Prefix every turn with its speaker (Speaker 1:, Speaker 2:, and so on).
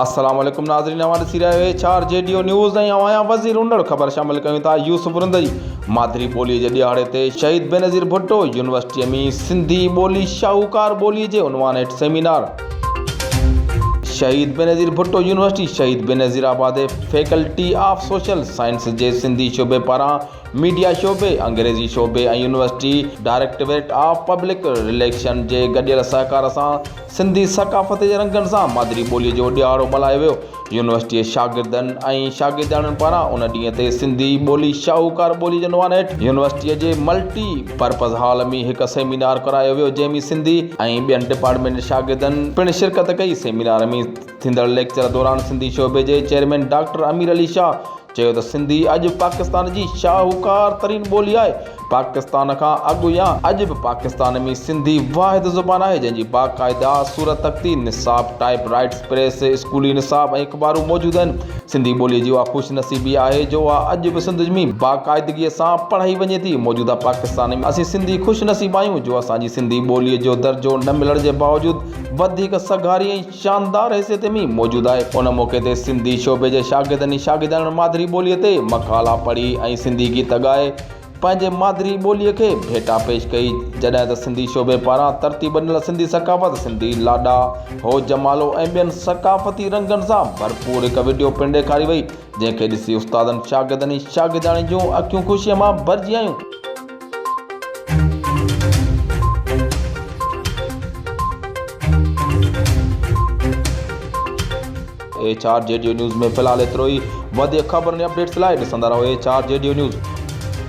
Speaker 1: السلام عليڪم ناظرين اوهان ڏسي رهيا آهيو چار جي ڊيو نيوز ۽ اوهان يا وزير انڙ خبر شامل ڪيون ٿا يوسف رندي مادري ٻولي جي ڏهاڙي تي شهيد بينظير ڀٽو يونيورسٽي ۾ سنڌي ٻولي شاهوڪار ٻولي جي عنوان هيٺ سيمينار شهيد Benazir Bhutto university Shaheed Benazirabad faculty of social science جي سنڌي شعبي پاران ميڊيا شعبي، انگريزي شعبي ۽ university directorate of public relation جي گڏيل سهڪار سان سنڌي ثقافت جي رنگن سان مادري ٻوليء جو ڏهاڙو ملهايو ويو. يونيورسٽيء جي شاگردن ۽ شاگردياڻين پاران ان ڏينهن تي سنڌي ٻولي شاهوڪار ٻولي جي عنوان هيٺ يونيورسٽيء جي ملٽي پرپز هال ۾ هڪ سيمينار ڪرايو ويو جنهن ۾ سنڌي ۽ ٻين ڊپارٽمينٽ جي شاگردن پڻ شرڪت ڪئي. سيمينار ۾ ٿيندڙ ليڪچر دوران سنڌي شعبي جي چيئرمين ڊاڪٽر امير علي شاهه، چيو ته سنڌي اڄ پاڪستان جي شاهوڪار ترين ٻولي آهي، پاڪستان کان اڳ يا اڄ به پاڪستان ۾ سنڌي واحد زبان آهي جنهن جي باقاعده صورت تختي، نصاب، ٽائيپ رائيٽس، پريس، اسڪولي نصاب ۽ اخبارون موجود آهن، سنڌي ٻولي جي اها خوش نصيبي آهي جو اها اڄ به سنڌ ۾ باقاعدگي سان پڙهائي وڃي ٿي، موجوده پاڪستان ۾ اسين سنڌي خوش نصيب آهيون جو اسان جي سنڌي ٻولي جو درجو نه ملڻ جي باوجود وڌيڪ سگهاري ۽ شاندار حيثيت ۾ موجود آهي. ان موقعي تي سنڌي شعبي جي شاگردن ۽ شاگردياڻين مادري ٻوليء تي مقالا پڙهي ۽ سنڌي گيت ڳائي پنهنجي مادري ٻوليء کي ڀيٽا پيش ڪئي جڏهن ته سنڌي شعبي پاران ترتيب ڏنل سنڌي ثقافت، سنڌي لاڏا، هو جمالو ۽ ٻين ثقافتي رنگن سان ڀرپور هڪ وڊيو پڻ ڏيکاري وئي جنهن کي ڏسي استادن، شاگردن ۽ شاگردياڻين جون اکيون خوشيء مان ڀرجي آيون. ايڇ آر جي ڊيو نيوز ۾ في الحال ايترو ئي وڌيڪ خبرن ۽ اپڊيٽس لاء ڏسندا رهو ايڇ آر جي ڊيو نيوز.